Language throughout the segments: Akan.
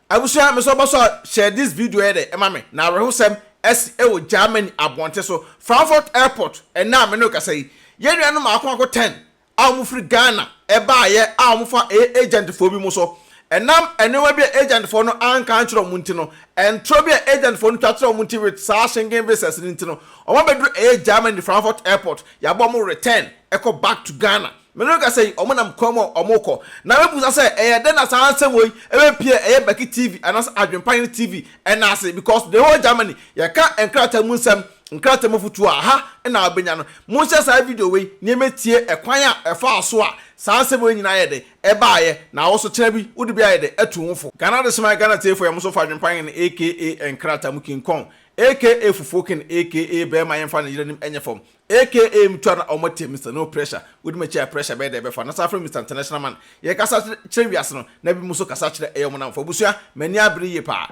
Abusua mesɔ bɔ sɔ share this video yɛ dɛ ɛma me na awerɛhosɛm asi ɛwɔ Germany abɔnten so Frankfurt airport ɛnɛ a me ne wo kasa yi yɛn nuanom maako maako ten a wɔn firi Ghana ɛbaa yɛ a wɔn fa ɛyɛ agent foɔ bi mo so ɛnam ɛnoɔma bi a agent foɔ no anka ankyerɛ wɔn nti no ɛntorɔ bi a agent foɔ no twa kyerɛ wɔn nti with saa shingen visas no nti no wɔn abɛduru ɛyɛ Germany Frankfurt airport yɛabɔ wɔn return ɛkɔ back to Ghana Merekasa yi, wɔnam kwan mu a wɔrekɔ, na mebisa sɛ ɛyɛ dɛn na saa nsɛm wɔ yi bɛpue a ɛyɛ Becky TV anaasɛ Adwempayre TV nan ase because the whole Germany yɛka nkrataa mu nsɛm, nkrataa mu afotuo a ha na wobɛnya no. Monhyɛ saa video wei na yɛmmɛtie ɛkwan a ɛfaa so a saa nsɛm wei nyinaa yɛ dɛn ɛbaaeɛ na wo nso kyena bi wode bi ayɛ dɛn atu wo fo. Ghana Adesoman Ghana Tiefoɔ yɛn nso fa Adwempayre no aka nkrataa mu kinkɔn aka fufuo ken aka bɛɛma yɛmfa ne yere anim nyɛ fam Aka mutwa na ɔmo te Mister No pressure wodi makyi a pressure bɛyɛ dɛ ɛbɛfa no saa frɛ Mister International man yɛ kasa kyerɛ wiase no na binom nso kasa kyerɛ ɛyɛ ɔmo namfo abusua mani abere yie paa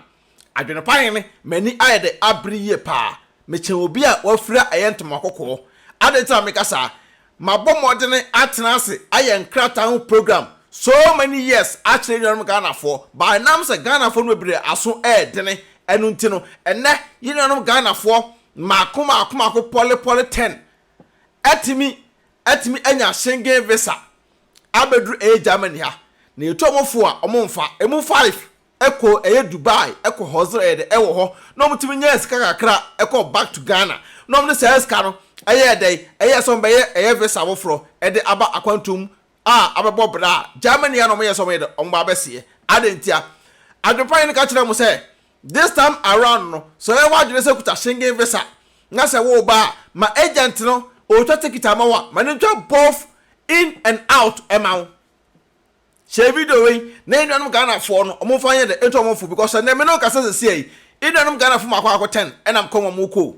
adwene pa hene mani ayɛ dɛ abere yie paa mekyɛn obi a wafira ɛyɛ ntoma kɔkɔɔ adɛn nti na meka saa mabɔ mmɔdene atena ase ayɛ nkrataa ho program so many years akyerɛ yɛnuanom Ghanafoɔ but ɛnam sɛ Ghanafoɔ no bebree aso ɛɛdene ɛno nti no ɛnɛ yɛnuanom Ghanafoɔ mmaako mmaako mmaako pɔle pɔle ten atumi atumi anya Schengen visa abɛduru ɛyɛ Germany ha na yɛtu wɔn fo a wɔn mfa ɛmu five ɛkɔ ɛyɛ Dubai ɛkɔ hustle ɛyɛ dɛ ɛwɔ hɔ na wɔn tumi nya sika kakra ɛkɔ back to Ghana na wɔn de saa sika no ɛyɛ dɛ ɛyɛ sɛ wɔn bɛyɛ ɛyɛ visa foforɔ ɛde aba akwantuom a abɛbɔ bra a, Germany a na wɔyɛ sɛ wɔyɛ dɛ wɔba abɛseɛ. Adɛn ntia? Adwempanyin no ka kyerɛɛ wɔn sɛ, This time around no, sɛ ɔyɛ w'adwene sɛ kuta Schengen visa, na sɛ woreba a, ma agent no ɔtwa ticket ama wo a, ma no ntwa both in and out ma wo. Hyɛ video wei na enuanom Ghanafoɔ no wɔmfa nyɛ dɛ nto wɔn fo because ɛnnɛ me ne wo kasa sesia yi, enuanom Ghanafoɔ mako akotɛn ɛnam kwan mu a wɔrekɔ o.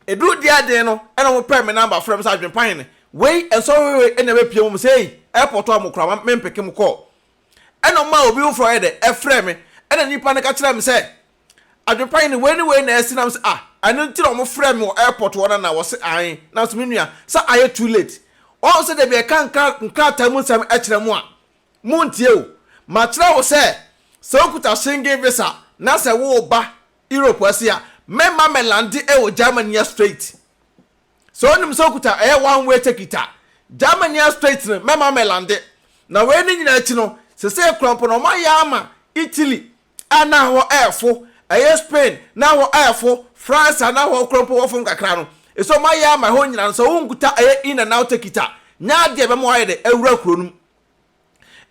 Eduu dia den no na ɔmo pɛɛ me namba frɛɛ me sɛ Adwenpa hene, wei nsɔhwehwɛ ɛna w'apue mo mo sɛ ei airport a mo kora ma me mpeke mo call. Ɛna ɔmaa obi foforɔ yɛ dɛ ɛfrɛɛ me ɛna nipa no ka kyerɛɛ me sɛ Adwenpa hene wei ne wei na asi nam sɛ ah ɛno nti na ɔmo frɛɛ me wɔ airport hɔ na na wɔse aen nam sɛ me nua sɛ ayɛ too late wahu sɛ dabi ɛka nkrataa mu nsɛm ɛkyerɛ mo a mo ntie o makyerɛ wo sɛ sɛ wokuta Schengen visa na sɛ wo ba Europe ase a mɛma mɛ lande ɛwɔ Germania straight sɛ onim sɛ okuta ɛyɛ one way ticket a Germania straight no mɛma mɛ lande na wei ne nyinaa akyi no sesei koraa mpo no ɔmo ayɛ ama Italy a na hɔ ɛɛfo ɛyɛ Spain na hɔ ɛɛfo France a na hɔ koraa mpo wɔfom kakra no ɛsɛ ɔmo ayɛ ama ɛhɔ nyinaa no sɛ wonkuta ɛyɛ in and out ticket a nyɛ adeɛ ɛbɛma wayɛ dɛ awura kuro no mu.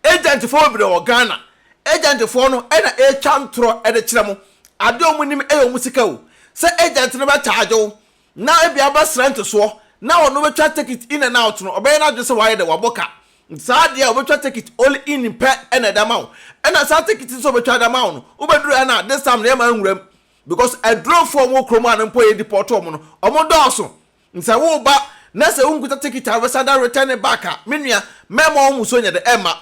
Agentfoɔ bebree wɔ Ghana. Agentfoɔ no na ɛretwa ntorɔ de kyerɛ mo. Adeɛ a wɔnim yɛ wɔn sika o. Sɛ agent no bɛcharge wo na ebia wobɛsrɛ ntesoɔ na ɔno bɛtwa tekit in and out no, ɔbɛyɛ n'adwene sɛ wayɛ dɛ, wabɔ ka. Nti saa adeɛ a ɔbɛtwa tekit only in pɛ na ɛde ama wo. Ɛna saa tekit nso a ɔbɛtwa de ama wo no, wobɛduru ha no a, this time no yɛmma nwura mu. Because adurofoɔ a wɔwɔ kurom ha no mpo a yɛdepɔɔto wɔn no, wɔdɔɔso. Sɛ wo ba na sɛ wonkuta ticket a wobɛsan da return it back a, me nua, mɛma wo musuo nyɛ dɛ, ɛmma.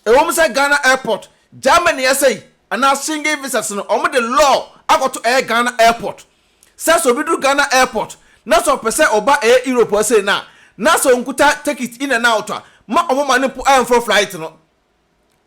Ɛwom sɛ Ghana airport, Germany ɛsɛ yi, anaa Schengen visas no, wɔn de law akɔto ɛyɛ Ghana airport. Sɛ sɛ obi duru Ghana airport na sɛ ɔpɛ sɛ ɔba ɛyɛ Europe ha sei no a, na sɛ onkuta ticket in and out a, ma wɔn ma no mpo ɛmforo flight no.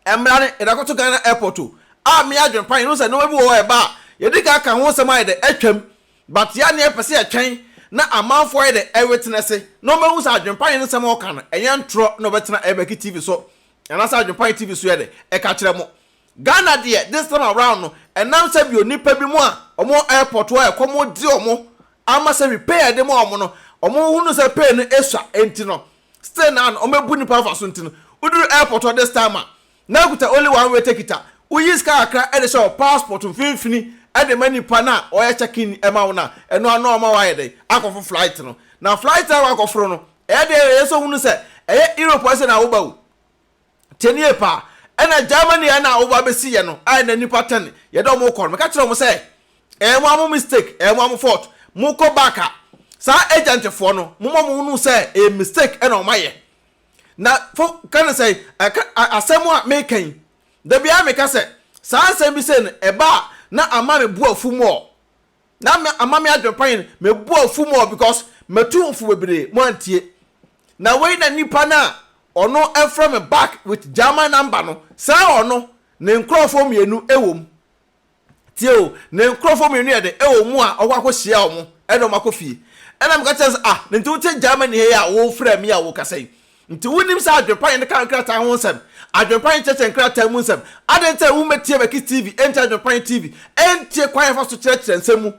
Mmra ne yɛn akɔto Ghana airport o ah me adwen pan yɛnhu sɛ nnoɔma bi wɔ hɔ a ɛba a yɛdi kan ka ho nsɛm ayɛ dɛ atwam but yɛ a na yɛpɛ sɛ yɛtwɛn na amanfoɔ ayɛ dɛ ɛwetenɛse na wɔn bɛhu sɛ adwen pan nsɛm a wɔka no ɛnyɛ ntorɔ na wɔbɛtena ɛbɛki TV so anaasɛ adwen pan TV so yɛ dɛ ɛka kyerɛ mo Ghana deɛ this time around no ɛnam sɛ bio nipa bi mo a wɔn wɔ airport hɔ a ɛkɔm de wɔn ama sɛ repair a yɛde ma wɔn no wɔn hunu sɛ pay no ɛsua ɛnti no Still naa no ɔmo abu nipa afa so nti no woduru airport hɔ this time a na akuta only one way ticket a woyi sika kakra ɛde hyɛ wɔ passport mfinfini ɛde ma nipa no a ɔyɛ check in ɛma wo no a ɛno ano ɔma wayɛ dɛn akɔfo flight no na flight na wakɔforo no ɛyɛ deɛ ɛyɛ sɛ ohunu sɛ ɛyɛ Europe ɛsɛ na woba o. Tie nie paa, ɛna Germany a ɛna woba bɛsi yɛ no, a ɛna nnipa ten yɛ dɛ wɔkɔ no, meka kyerɛ wɔn sɛ, ɛyɛ mo ara mo mistake, ɛyɛ mo ara mo fault, mokɔ back a, saa agent foɔ no, momma wɔn nhunu sɛ ɛyɛ mistake ɛna wɔn ayɛ. Na fo ka ne sɛn, ɛka asɛm a meka yi, da biara meka sɛ, saa asɛm bi sei no, ɛba a, na ama me bo afu more. na me ama me adwenpayen me bo afu mɔ because matu mfo bebree mo antie na wei na nipa no a ɔno ɛfrɛ me back with German number no saa ɔno ne nkorɔfoɔ mmienu ɛwɔ mu tie o ne nkorɔfoɔ mmienu yɛ de ɛwɔ mu a ɔkɔ akɔ hyia ɔmo ɛna ɔmo akɔ fie ɛna meka kyerɛ sɛ ah ne nti wote Germany hɛ a wofrɛ me a wokasa yi Nti wunim saa adwempa yi no ka nkrataa ho nsɛm? Adwempa yi nkyerɛkyerɛ nkrataa mu nsɛm. Adɛn nti na wummetie Verckys TV nkyɛ Adwempa yi TV? Ɛntie kwan a yɛfa so kyerɛkyerɛ nsɛm mu.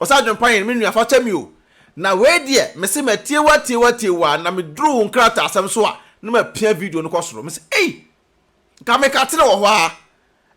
Ɔse Adwempa yi no, me nua fa kyɛ me o. Na wei deɛ, mese matie wo atie wo atie wo ara na meduru wo nkrataasɛm so a na mapia video no kɔ soro. Mese ei! Nka meka tena wɔ hɔ aa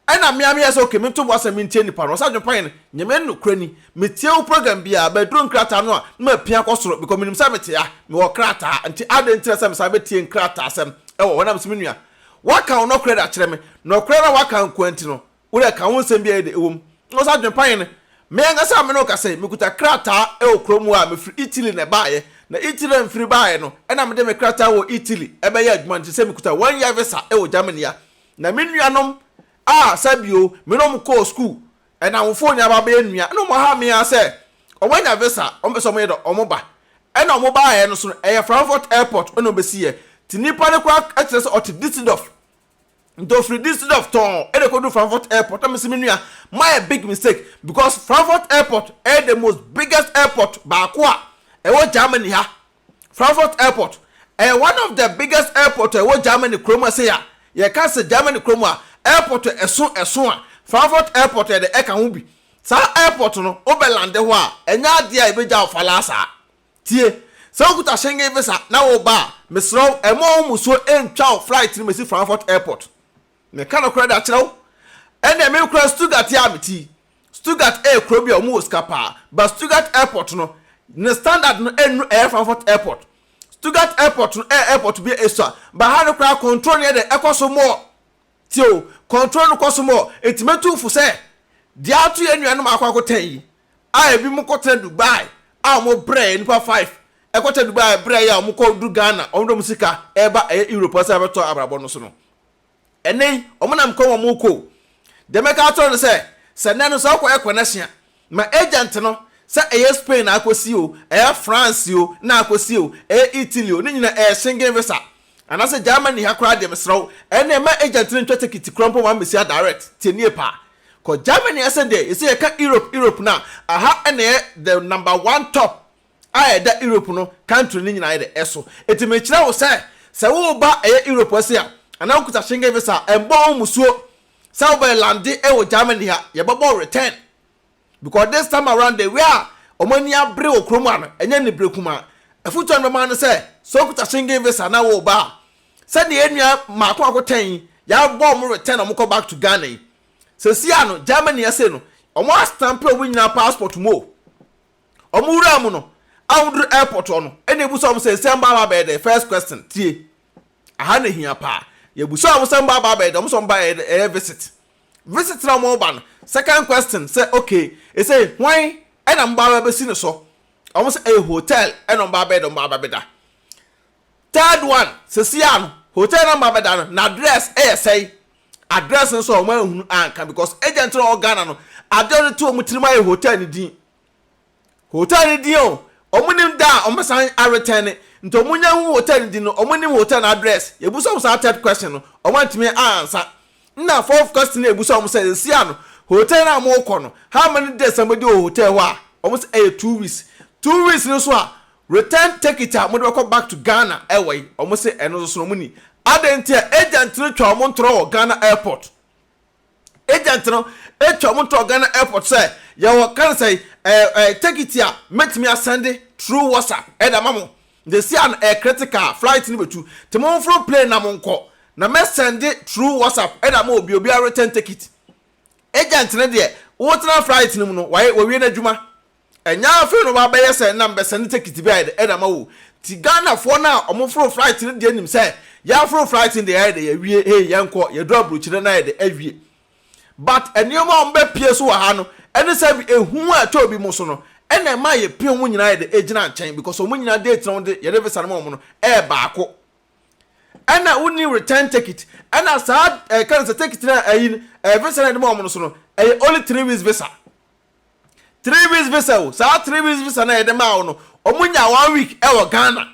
ɛna mea meyɛ sɛ ok mento boasɛm mentie nipa no ɔsa dwempa yɛn nyame nokorɛ ni metie wo program biaa but ɛduru nkrataa no a na mapia kɔ soro because menim sɛ mete a mewɔ krataa nti adɛn nti na sɛ mesan bɛtie nkrataa sɛm ɛwɔ hɔ na mese menua woaka wo nɔkorɛ de akyerɛ me nɔkorɛ na woaka nkoa nti no Wo deɛ ka wo nsɛm biara yi deɛ ɛwom na wo sɛ adwene pa hene. Me ankasa me ne wo kasa yi, mekuta krataa wɔ kurom hɔ a mefiri Italy na ɛbaeɛ. Na Italy na mefiri baeɛ no na mede me krataa wɔ Italy bɛyɛ adwuma no te sɛ mekuta one year visa wɔ Germany a. Na me nuanom a sɛ bio me ne wɔn kɔɔ sukuu nnamfoɔ nyinaa ba bɛyɛ nua na wɔha me ara sɛ wɔn anya visa a wɔpɛ sɛ wɔyɛ dɛ wɔn ba. Ɛna wɔn baeɛ no so no ɛyɛ Frankfurt airport na wɔbɛsiiɛ. Nti nipa no koraa kyerɛ sɛ ɔte Düsseldorf nti ofiri Düsseldorf tɔn ɛna ekodu Frankfurt airport ɛna mesi mi nua mayɛ big mistake because Frankfurt airport ɛyɛ the most biggest airport baako a ɛwɔ Germany ha Frankfurt airport ɛyɛ one of the biggest airport a ɛwɔ Germany kurom a sɛ a yɛka sɛ Germany kurom a airport a ɛso ɛso a Frankfurt airport yɛde ɛka ho bi saa airport no wobɛlande hɔ a ɛnyɛ adeɛ a ɛbɛgya wo falaa saa Tie! Sɛ wokuta Schengen visa na woreba a, mesrɛ wo, mma wo mmusuo ntwa wo flight no mɛsi Frankfurt Airport. Meka nokorɛ de akyerɛ wo, ɛnneɛ me koraa Stuttgart yi ara mete yi. Stuttgart yɛ kuro bi a wɔwɔ sika paa, but Stuttgart Airport no, ne standard no nnuru ɛyɛ Frankfurt Airport. Stuttgart Airport no yɛ airport bi a ɛsua, but ha no koraa control no yɛ dɛ, ɛkɔ so more. Tie o, control no kɔ so more, enti mɛtu wo fo sɛ, deɛ ato yɛn nuanom a wɔakɔ akɔtɛn yi, a ebinom kɔtena Dubai a wɔbrɛɛ yɛn nnipa five, ɛkɔtena Dubai a ɛbrɛɛ yɛn a wɔkɔduru Ghana, wɔde wɔn sika reba ɛyɛ Europe hɔ sɛ wɔbɛtɔ abrabɔ no so no. Ɛnnɛ yi, wɔnam kwan mu a wɔrekɔ o. Deɛ mɛka akyerɛ wo ne sɛ, sɛ nnɛ no sɛ wokɔyɛ connection a, Ma agent no, sɛ ɛyɛ Spain na akɔsi o, ɛyɛ France o na akɔsi o, ɛyɛ Italy o, ne nyinaa ɛyɛ Schengen visa. Anaasɛ Germany ha koraa deɛ mesrɛ wo, ɛnneɛ ma agent no ntwa tekiti koraa mpo mma mmɛsi ha direct, tie nie paa. Kɔ Germany ɛsɛ deɛ yɛsɛ yɛka Europe Europe no a, aha na ɛyɛ the number one top a ɛda Europe no country no nyinaa yɛdɛ ɛso. Enti mekyerɛ wo sɛ, sɛ woreba ɛyɛ Europe ɛse a, anaa wokuta Schengen visa a, ɛmmɔ wo mmusuo. sɛ wobɛ lande wɔ Germany ha yɛbɛbɔ return because this time around the way a wɔn ani abere wɔ kurom ano ɛnyɛ ne bere kumaa afutuo a bɛma no sɛ sɛ okuta Schengen visa na wɔ ba a sɛdeɛ yɛn nua mako mako tɛn yi yɛabɔ wɔn return wɔn kɔ back to Ghana yi sɛsi ano Germany ɛsɛ no wɔn astampe wɔn nyinaa passport mu o wɔn wura mu no a wɔduru airport hɔ no ɛna ebu sɛ wɔn sɛ nsia mba aba bɛyɛ dɛ first question tie. Aha na ehia paa. Yɛabusua wɔn sɛ wɔmba Bible de, wɔn nso wɔmba yɛ ɛyɛ visit. Visit na wɔba no, second question sɛ okay, ese hwan na moba abɛsi ne so? Wɔn sɛ ɛyɛ hotel na wɔmba abɛyɛ de, wɔmba abɛda. Third one, seesei a no, hotel na wɔmba abɛda no, n'address yɛ sɛn? Address no nso wɔn anhunu anka because agent na ɔwɔ Ghana no, ade a ɔde to wɔn tirim ara yɛ hotel no din. hotel no din o ɔmo nim da a ɔmo san aretɛn ne nti ɔmo nya hu hotel no din no ɔmo nim hotel no address yɛbusa ɔmo saa third question no ɔmo antumi ansa nna fourth question no yɛbusa ɔmo sɛ sesia no hotel no a ɔmo kɔ no how many days na ɔmo di wɔ hotel hɔ a ɔmo sɛ ɛyɛ two weeks two weeks no so a return ticket a ɔmo de bɛkɔ back to Ghana ɛwɔ yi ɔmo sɛ ɛno nso so na ɔmo ni adɛn nti a agent no twa ɔmo ntorɔ wɔ Ghana airport. agent no twa wɔn to wɔ Ghana airport sɛ yɛwɔ kansai ɛɛ ɛɛ tekiti a mɛtumi asɛnde through WhatsApp ɛde ama mo. Yɛsi a no ɛyɛ critical flight no bɛtu te mo mforo plane na mo nkɔ na mɛsɛnde through WhatsApp ɛde ama obi obiara return tekiti. Agent no deɛ wotena flight no mu no wawie n'adwuma. Ɛnyɛ afei na wabɛyɛ sɛ na mebɛsɛn ne tekiti bɛyɛ dɛ de ama wo. Nti Ghanafoɔ no a wɔforo flight no deɛ nim sɛ yɛaforo flight no deɛ yɛayɛ dɛ yɛawie hei yɛnkɔ, yɛduru aburokyire no na ayɛ dɛ awie. But nneɛma a wɔbɛpie so wɔ ha no ne sɛ ehu a ɛtɔ obi mu so no na ɛma yɛpie wɔn nyinaa yɛ dɛ gyina nkyɛn because wɔn nyinaa date na wɔde yɛde visa no ma wɔn no yɛ baako. Ɛna wonni return tekit. Ɛna saa ɛka no sɛ tekiti no a ayi no visa no a yɛde ma wɔn no so no ɛyɛ only three weeks visa. three weeks visa o saa three weeks visa na yɛde maa wo no wɔn nya one week ɛwɔ ghana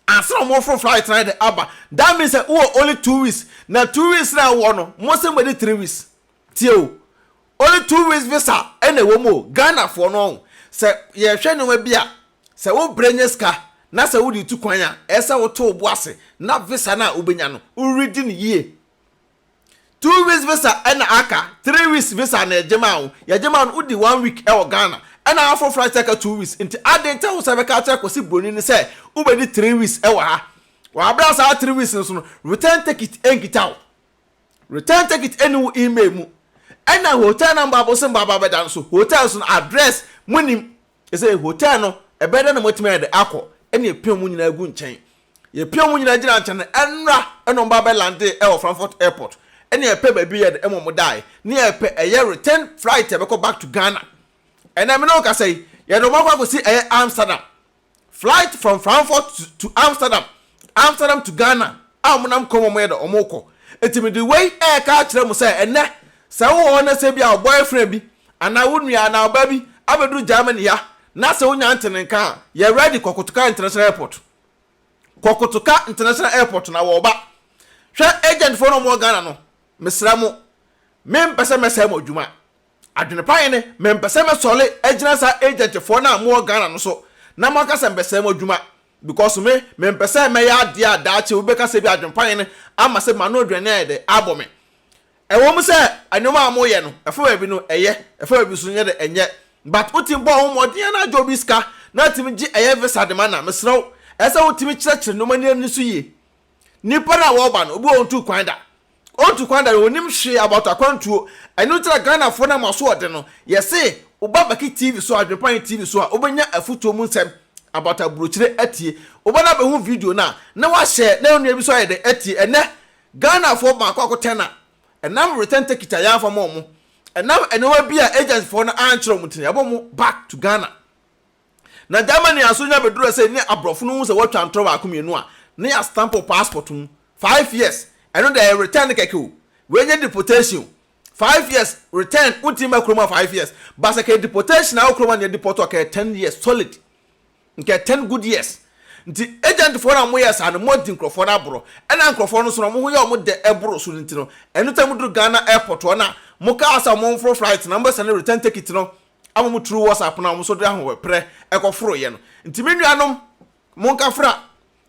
ansa na wɔn foro flight na yɛde aba that means sɛ wɔ only two weeks na two weeks na ɛwɔ no mo se mo de three weeks tie o only two weeks visa ɛna ɛwɔ mu o ghana foɔ no ɔn sɛ yɛhwɛ nneɛma bi a sɛ wo brɛ nye sika na sɛ wode tu kwan a ɛsɛ woto wo bo ase na visa no a wobɛnya no woredi no yie two weeks visa ɛna aka three weeks visa na yɛgye maa wo yɛgye maa no wodi one week ɛwɔ Ghana ɛna aforo flight ɛka two weeks nti aden nti a wo sɛ bɛka akyerɛ kwasi broni no sɛ wobɛdi three weeks ɛwɔ ha wɔ abira saa three weeks no so no return ticket ɛnkita wo return ticket ɛni wo email mu ɛna hotel na mbɔ abosom bɔ aba bɛda no so hotel so no address munim Ese, Hotel no, ɛbɛyɛ dɛn na moatumi ayɛ de akɔ? Ɛnna yɛpiaa wɔn nyinaa gu nkyɛn. Yɛpiaa wɔn nyinaa gyinaa nkyɛn no, ɛnna ɛnna wɔn ba bɛlandee wɔ Frankfurt Airport. Ɛnna yɛpɛ baabi yɛ de ɛma wɔn dae. Nea yɛpɛ, ɛyɛ return flight a ɛbɛkɔ back to Ghana. Ɛnnɛ me ne wo rekasa yi, yɛde wɔn akɔ akɔsi ɛyɛ Amsterdam. Flight from Frankfurt to Amsterdam, Amsterdam to Ghana a wɔnam kwan mu a wɔyɛ dɛ wɔkɔ. Enti mede wei reka akyerɛ mo sɛ ɛnnɛ sɛ wowɔ hɔ na sɛ ebia wo boyfriend bi anaa wo nua anaa ɔbaa bi abɛduru Germany ha na sɛ wonya nte ne nka a, yɛ ready kɔ Kotoka International Airport. Kɔ Kotoka International Airport na wɔba. Hwɛ agentfoɔ no a wɔwɔ Ghana no, mesrɛ mo, mempɛ sɛ mɛsɛe mo adwuma. Adwene pa he ne, mempɛ sɛ mɛsɔre agyina saa agentfoɔ no a mowɔ Ghana no so na moaka sɛ mbɛsɛe mo adwuma because me, mempɛ sɛ mɛyɛ adeɛ a daakye wobɛka sɛ ebia adwene pa he no ama sɛ m'ano aduane ayɛ dɛ, abɔ me. Ɛwɔ mu sɛ nnoɔma a moyɛ no, ɛfa baabi no, ɛyɛ, ɛfa baabi nso no, nyɛ dɛ, ɛnyɛ. But wotumi bɔ wo ho mmɔden ara gye obi sika na atumi gye ɛyɛ visa de ma no a, mesrɛ wo, ɛsɛ sɛ wotumi kyerɛkyerɛ nnoɔma no ani so yie. Nnipa no a wɔba no, obi wɔ hɔ a ɔntu kwan da. Ɔntu kwan da no, ɔnnim hwee about akwantuo. Ɛno nti na Ghanafoɔ no ama so ɔden no. Yɛse, woba Baki TV so a, Adwenpa He TV so a, wobɛnya afutuo mu nsɛm about aburokyire atie. Woba na wobɛhu video no a, na wahyɛ na onua bi nso ayɛ dɛn atie. Ɛnnɛ, Ghanafoɔ baako akotɛn na ɛnam return ticket a yɛamfa ma wɔn. Ɛnam nneɛma bi a agencyfoɔ no ankyerɛ wɔn nti na yɛabɔ wɔn back to Ghana. Na Germany a so nya bɛdurɛ sɛ ne abrɔfo no hu sɛ wɔatwa ntorɔ baako mmienu a ne yɛ stamp wo passport mu five years ɛno deɛ ɛyɛ return kɛkɛ o wei nyɛ deportation o five years return wo ntimi ba kurom a five years ba sɛ kɛyɛ deportation a wo kurom a ne yɛ deport a kɛyɛ ten years solid nkɛyɛ ten good years nti agent foɔ no a mo yɛ saa no mo adi nkurɔfoɔ no aborɔ ɛna nkurɔfoɔ no so no mo ho yɛ ɔmo dɛ ɛboro so no nti no ɛno tɛ mo duru Ghana airport hɔ na mo kaa sɛ ɔmo mforo flight na mo bɛsɛne return tekit no a wɔn through WhatsApp no a wɔn nso de ahoɔprɛ ɛkɔforo yɛ no. Nti me nuanom, monkafra.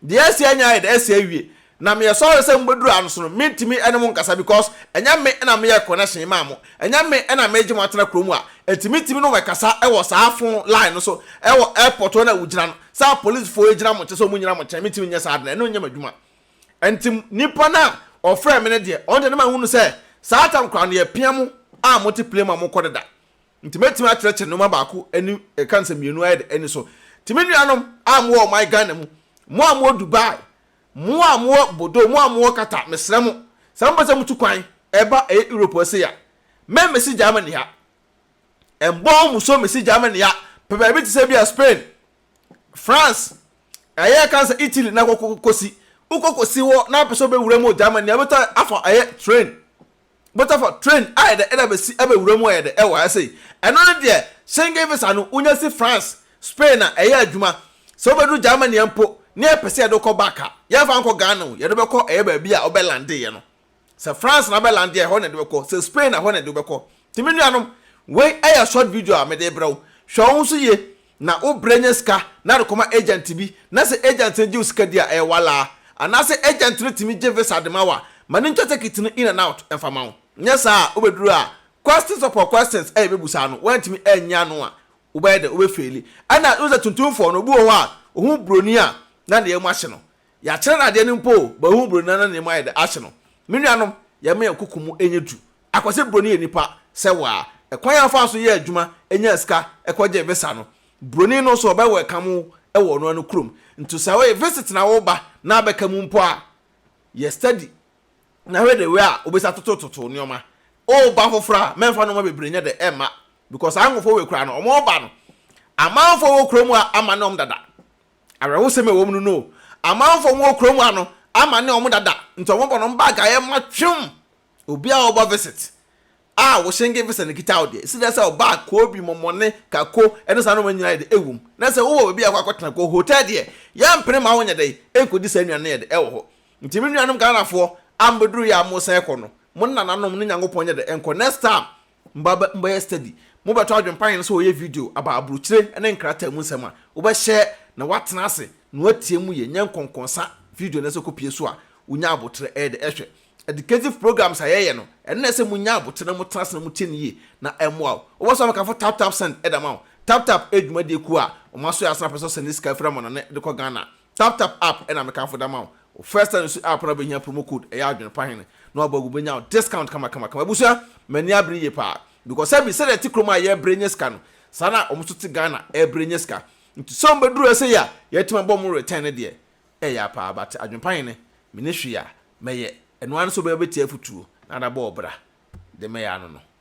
Deɛ ɛsi anya ayɛ dɛ ɛsi awie. Na meyɛ sorry sɛ mobɛduru ha no so no mentumi ɛne mo nkasa because ɛnyɛ me na meyɛ connection maa mo. Ɛnyɛ me na meregye mo atena kuro mu a ɛnti mentumi ne mo ɛkasa ɛwɔ saa phone line no so ɛwɔ airport hɔ no a wogyina no sɛ apolicefoɔ ɛgyina mo nkyɛn sɛ wɔn nyina mo nkyɛn mentumi nyɛ saa ade no ɛno nyɛ m'adwuma. Ɛnti nipa no a ɔfrɛɛ me no deɛ ɔno deɛ na mahunu sɛ saa tam koraa no yɛpia mo a mote plane mu a mokɔ deda. Nti mɛtumi akyerɛkyerɛ nnoɔma baako ani ɛka nsɛm mmienu ayɛ dɛ ani so. Nti me nuanom a mowɔ ɔman Ghana mu, mo a mowɔ Dubai, mo a mowɔ Bordeaux, mo a mowɔ Qatar, mesrɛ mo, sɛ mopɛ sɛ motu kwan ɛba ɛyɛ Europe ha sei a, me mesi Germany ha. Mbɔɔ mo so mesi Germany ha, pɛ baabi te sɛ bi a Spain, France, ɛyɛ ɛka nsɛ Italy na kɔkɔ kɔsi. Wokɔ kɔsi hɔ na wopɛ sɛ wobɛwura mu wɔ Germany a, wobɛtɔ afa ɛyɛ train Butterford train ayɛ dɛ ɛda besi ɛbɛ wura mu ayɛ dɛ ɛwɔ ha sei ɛno no deɛ Schengen visa no wonya si France Spain a ɛyɛ adwuma sɛ wo bɛduru Germany a mpo ne yɛ pɛsɛ yɛde wo kɔ back a yɛn fa nkɔ Ghana o yɛde wo bɛkɔ ɛyɛ baabi a wo bɛ lande yɛ no sɛ France na bɛ lande a ɛhɔ na yɛde bɛkɔ sɛ Spain a ɛhɔ na yɛde wo bɛkɔ nti me nuanom wei ɛyɛ short video a mede brɛ wo hwɛ wo ho so yie na wo brɛ nya sika na de kɔma agent bi na sɛ agent no gye wo sika di a ɛyɛ walaa anaasɛ agent no tumi gye visa de ma wo a ma no ntwa tekit no in and out mfa ma wo nyɛ saa a wobɛduru a questions upon questions a yɛbɛbusa no woantumi anyi ano a wobɛyɛ dɛn wobɛfeeli ɛna wohu sɛ tuntumfoɔ no obi wɔ hɔ a ɔhu broni a na ne yam ahye no yɛakyerɛ no adeɛ no mpo o but ɔhu broni no na ne yam ayɛ dɛn ahye no me nuanom yɛmma yɛn koko mu nyɛ duru Akwasi Broni yɛ nipa sɛ wo a ɛkwan a ɔfaa so yɛɛ adwuma nyaa sika kɔ gyee visa no Broni no nso ɔbɛ wɛlkam wo wɔ ɔno ano kurom nti sɛ ɔyɛ visit na wo ba na abɛka mu mpo a yɛ steady na hwɛ the way a wobɛsi atoto toto nnoɔma oo ba foforɔ a mɛnfa nnoɔma bebree nyɛ dɛ ɛmma because saa nkorɔfoɔ wei koraa no ɔmo reba no amanfoɔ a wɔ kurom ha amane ɔmo dada awerɛhosɛm a ɛwɔ mu no no amanfoɔ a ɔmo wɔ kurom ha no amane ɔmo dada nti ɔmo bɔ no ɔmo bag a ɛma twem Obi a ɔba visit a wo Schengen visa na ekita wo deɛ, esi dɛn sɛ ɔbaa Kobi, Momone, Kako ɛne saa nnoɔma nyinaa yɛde ɛwom. Na sɛ wowɔ baabi a wokɔ akɔtena kɔ hotel deɛ, yɛmpene ma wonyɛ dɛn nkɔdi saa nnuane no yɛde ɛwɔ hɔ. Nti me nuanom Ghanafoɔ a mobɛduru yɛ a moresan kɔ no, mo ne nananom ne Nyankopɔn nyɛ dɛn nkɔ next time Mma mobɛyɛ stadi. Mobɛto adwene pa yɛn sɛ wɔyɛ video aba aburokyire ne nkrataa mu nsɛm a wobɛhyɛ na woatena ase na woatie mu yie nyɛ nkɔnkɔnsa video na ɛsɛ kɔpie so a wonya aboterɛ ɛyɛ dɛ ɛhwɛ Educative programs a yɛyɛ no ɛno na ɛsɛ monya aboterɛ na motena ase na motie no yie na ɛmmoa wo wobɛsɔ amekafo tap tap send ɛda ma wo tap tap ɛyɛ dwumadie kuo a wɔn aso yɛ asene apɛ sɛ ɔsɛnde sika firi amannɔne de kɔ Ghana Taptap app na me kanfo da ma wo wo first time su app na wo bɛhia promo code ɛyɛ adwene pa hene na wabɔ agu bɛnya wo discount kama kama kama abusua m'ani abere yie paa because sɛbi sɛdeɛ ɛte kurom a yɛ brɛ nya sika no saa na wɔn nso te Ghana ɛbrɛ nya sika nti sɛ wɔn bɛ duru ha sɛyi a yɛatumi abɔ wɔn return no deɛ ɛya paa but adwene pa hene meni hwee a mɛyɛ ɛno ara ne sɛ obɛma bɛtie afutuo na ada bɔ ɔbra de mɛyɛ ano no.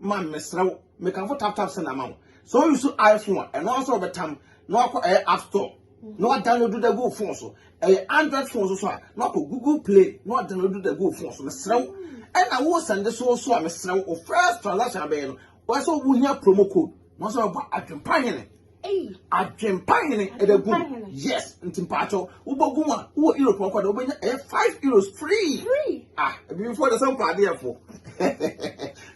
ma mesrɛ wo mekamfo tap tap send ama wo sɛ o use iphone a ɛno ara sɛ ɔbɛtam na wakɔ ɛyɛ app store na wadownload da gu phone so ɛyɛ android phone so so a na wakɔ google play na wadownload da gu phone so mesrɛ wo ɛna wo send so so a mesrɛ wo first transaction abɛyɛ no wɔsɛ wohia promo code na wɔsɛ wɔbɔ adwempa hene Adwempa hene ɛbɛ gu yes nti mpaatɔ wobɔ gu a wowɔ europe ɔkɔ de wobɛnya ɛyɛ five euros free ah ebifoɔ de sɛ mpa adeɛ fo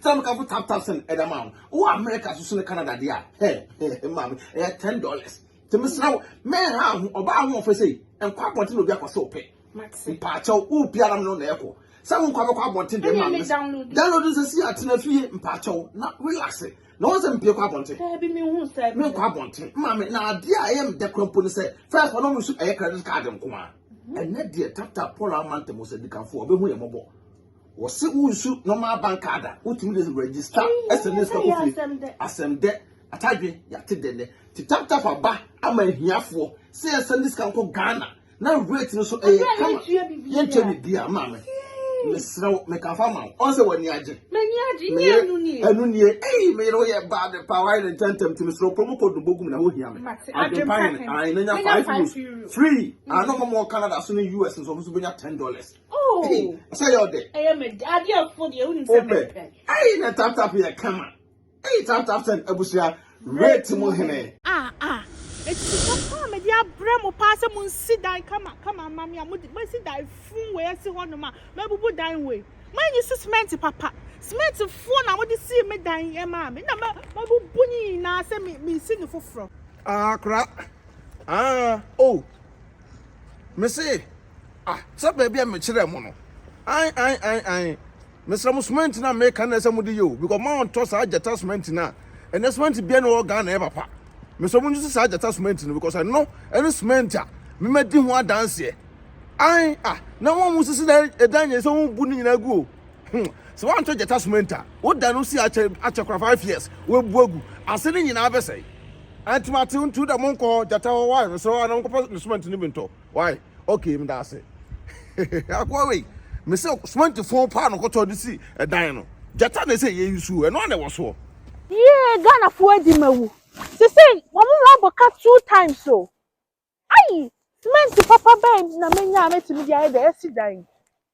sɛ mo kafo tap tap sɛn ɛda maa mo wowɔ america soso ne canada deɛ a hɛ hɛ maame ɛyɛ ten dollars tèmi sra wo mɛn ha ho ɔbaa ho ɔfɛ sɛ nkɔ abɔnten na obi akɔ sɛ ɔpɛ mpaatɔ wo biara mo na ɛkɔ sɛ mo nkɔ abɛkɔ abɔnten deɛ maame download nsɛsi atena fie mpaatɔ na relax. na wɔn sɛ mpie kɔ abɔnten menkɔ abɔnten maame na adeɛ a ɛyɛ meda kura mpo ne sɛ fɛs ɔno mu so ɛyɛ credit card nko a mhm. ɛnɛ deɛ tata paul amanta mu sɛ dikanfoɔ ɔbɛhu yɛ mmɔbɔ wɔse wonsu normal bank card a wotumi de register ɛsɛ ne sika kofie asɛm dɛ atadwe yɛate dɛ nɛ te tap tap aba ama ahiafoɔ sɛ yɛsɛ ne sika nkɔ ghana na rate no so ɛyɛ kama yɛntua biribiara maa me mesrɛ wo meka fa ma wo ɔn sɛ w'ani agye ɛno nie ei meyere woyɛ bad pa woayɛ ne ntɛntɛm nti mesrɛ promo code no bɔgum na wohia me adwempa hene ae na nya 5 euros free ano ma mɔ canada so ne us nso ɔmo so bɛnya 10 dollars sɛ yɛ ɔdɛ wopɛ ei na taptap yɛ kama Eii tap tap send abusua rate mu hene. Ah ah ɛtiti papa a mede abrɛ mo paa sɛ monsi dan kama kama mma me a mode masi dan fun wei asi hɔ nom a mabubu dan wei moanyi so cement papa cement foɔ na mode sii me dan yi ɛmaa me na mabubu ne nyinaa sɛ me mesi ne foforɔ. Ah kora ah oh mese ah sɛ baabi a mekyerɛ mo no ae ae ae ae. Mesrɛ mo cement no a meka no na ɛsɛ mode yɛ o because mo a ɔntɔ saa gyata cement no a ɛnɛ cement biara ni wɔ Ghana ɛyɛ papa. Mesrɛ mo nsusu saa gyata cement no because ɛno ɛne cement a me madi ho adanseɛ. Ae ah na wɔn a wɔsisi na ɛdan nyɛ sɛ wɔn bu ne nyinaa gu o. Hmm sɛ wɔantɔ gyata cement a woda no si akyɛ akyɛ kora five years wɔabu agu ase ne nyinaa bɛsɛe. Ɛnti mate ntu da mo nkɔ gyata hɔ wae mesrɛ wɔn a na wɔnkɔpɛ ne cement no bi ntɔ. Wai okay meda ase akoa wei mese cement fon paa no kɔtɔ de si ɛdan no gyata na ɛsɛ yɛyi suo ɛno a na ɛwɔ soɔ. Yee Ghanafoɔ adi ma wu. Sesei wɔn ho abɔ ka two times o. Ayi! Cement papa bɛn na menya a mɛtumi de ayɛ deɛ yɛsi dan yi?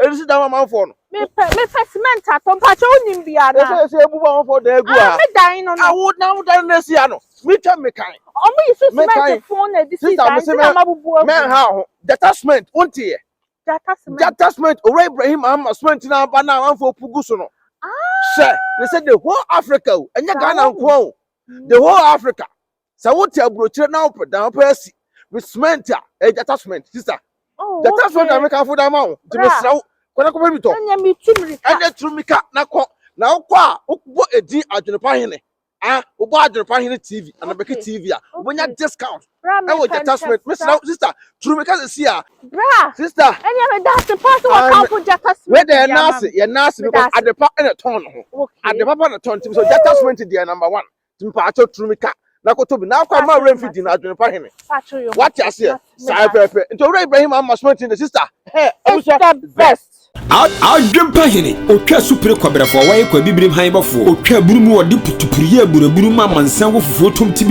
Ɛnu si dan amanfoɔ no. Mepɛ mepɛ cement atɔ mpakyɛ wonim bi ana. Ɛsɛ ɛsɛ ebu amanfoɔ dan egu ha. Me dan no no. Awo na awo dan no esi ha no. Mi twɛ mi kan. Ɔmo yi so cement fon na edisi dan ti na ma bubu agu. Mɛ ha ho jata cement wo nti yɛ. Jata cement. Jata cement owura Ibrahim ama cement na aba na amanfoɔ pu gu so no. Hyɛ ne sɛ the whole Africa o ɛnyɛ Ghana nkoa o the whole Africa sɛ wote aburokyire na wopɛ dan wopɛ asi me cement a ɛyɛ gyata cement sista oh, gyata cement na mekamfo da ma wo nti mesrɛ wo kɔnɛ kɔpɛ bi tɔ ɛnɛ turu mika na kɔ na wokɔ a wobɔ edin adwenepa hene ah wobɔ adwenepa hene tv anabɛke tv a wobɛnya discount ɛwɔ gyata cement mesrɛ wo sista turu mika sɛ si a bra sista ɛnɛ meda ase pa sɛ wɔkamfo gyata cement yɛ naase yɛ naase because adepa ɛna tɔn no ho adepa pa na tɔn nti mesɛ gyata cement deɛ number one mpatsɔ turu mi ka na koto bi na akɔ ama awura nfi di na adwene pa hene wate aseɛ saa pɛpɛ nti owura ibrahim ama sumati ne sista hɛ abusua best adwempa hene otwa supire kɔbrɛfoɔ wɔyɛ kɔ abibirim han bɔfoɔ otwa aburu mu wɔde putupuruyɛ aburaburu ma amansan wɔ fufuo tom ti bi